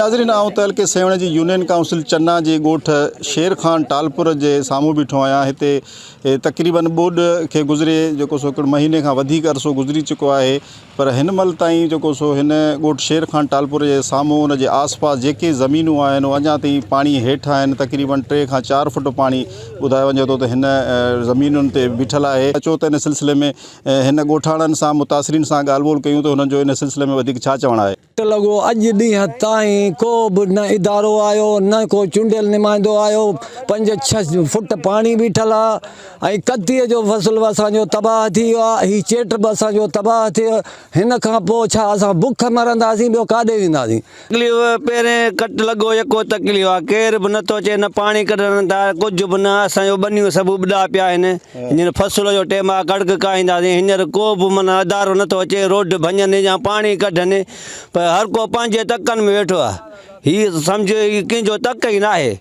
ناظرين آئون تعلقي سيوهڻ جي يونين ڪائونسل چنا جي ڳوٺ شير خان ٽالپور جي سامهون بيٺو آهيان هتي تقريبن ٻوڏ کي گذري جيڪو سو هڪڙ مهيني کان وڌيڪ عرصو گذري چڪو آهي پر هن مهل تائين جيڪو سو هن ڳوٺ شير خان ٽالپور جي سامهون ان جي آس پاس جيڪي زمينون آهن اهي اڃا تائين پاڻي هيٺ آهن تقريبن ٽي کان چار فٽ پاڻي ٻڌايو وڃي ٿو ته هن زمينن تي بيٺل آهي اچو ته ان سلسلي ۾ هن ڳوٺاڻن سان متاثرين سان ڳالهه ٻولهه ڪيون ته هنن جو ان سلسلي ۾ وڌيڪ ڇا چوڻ آهي. ٽ لڳو اڄ ڏينهن تائين ڪو به نه ادارو آيو نه ڪو چونڊيل نمائندو آيو پنج ڇهه فٽ پاڻي بيٺل آ ۽ ڪتيء جو فصل به اسان جو تباهه ٿي ويو آ هي چيٽ به اسان جو تباهه ٿي ويو هن کان پوء ڇا اسان بک مرنداسين ٻيو ڪاڏي وينداسين. تڪليف پهرين ڪٽ لڳو يڪو تڪليف آ ڪير به نه ٿو اچي نه پاڻي ڪڍڻ ٿا ڪجهه به نه اسان جو ٻنيون سڀ اٻڏا پيا آهن هينئر فصل جو ٽيم آ ڪڻڪ ڪاهينداسين هينئر ڪو به من ادارو نه ٿو اچي روڊ ڀڃن يا پاڻي ڪڍن پر هر ڪو پنهنجي تڪن ۾ ويٺو آ هي سمجهو هي ڪنهن جو تڪ ئي ناهي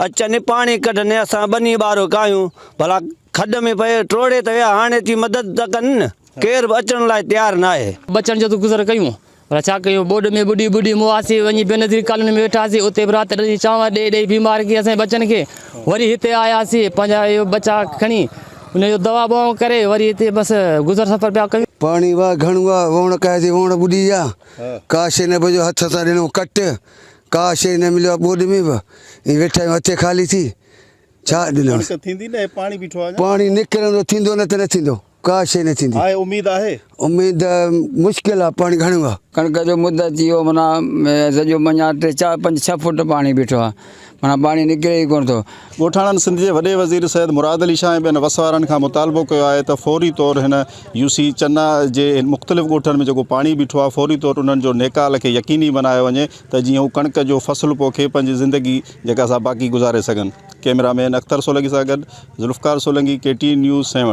اچن پاڻي ڪڍن اسان ٻني ٻارو ڪاهيون ڀلا کڏ ۾ پئي ٽوڙي ته ويا هاڻي اچي مدد ته ڪن ڪير به اچڻ لاء تيار ناهي. ٻچن جو ته گذر ڪيون پر ڇا ڪيون؟ ٻوڏ ۾ ٻڏي ٻڏي مواسي وڃي بينظير ڪالوني ۾ ويٺاسين. اتي به رات ڏني. چانور ڏيئي ڏيئي بيمار ڪيئي اسين ٻچن کي. وري هتي آياسين. پنهنجا اهي ٻچا کڻي انهن جو دوا ٻوائون ڪري وري هتي بس گذر سفر پيا ڪيون. پاڻي واهه گهڻو آ. ووڻ ڪاهي جي ووڻ ٻڏي ويا. ڪا شيء نه بچيو. هٿ سان ڏنو ڪٽ. ڪا شيء نه مليو آ ٻوڏ ۾ به. ائين ويٺا آهيون هٿي خالي ٿي. ڇا ڏنوس. پاڻي نڪرندو ٿيندو نه ته نه ٿيندو. ڪا شيء نه ٿيندي. آهي اميد آهي. اميد مشڪل آ پاڻي گهڻو آ. ڪڻڪ جو مد اچي ويو معنيٰ سڄو جو مڃان ٽي چار پنج ڇهه فوٽ پاڻي بيٺو آ معنيٰ پاڻي نڪري ئي ڪونه ٿو. ڳوٺاڻن سنڌ جي وڏي وزير سيد مراد علي شاهه ۽ ٻين وس وارن کان مطالبو ڪيو آهي ته فوري طور هن يو سي چنا جي مختلف ڳوٺن ۾ جيڪو پاڻي بيٺو آهي فوري طور انهن جو نيڪال کي يقيني بنايو وڃي ته جيئن هو ڪڻڪ جو فصل پوکي پنهنجي زندگي جيڪا سا باقي گذاري سگهن ڪئميرا مين اختر سولنگي سان گڏ Zulfiqar Solangi K T N news Sehwan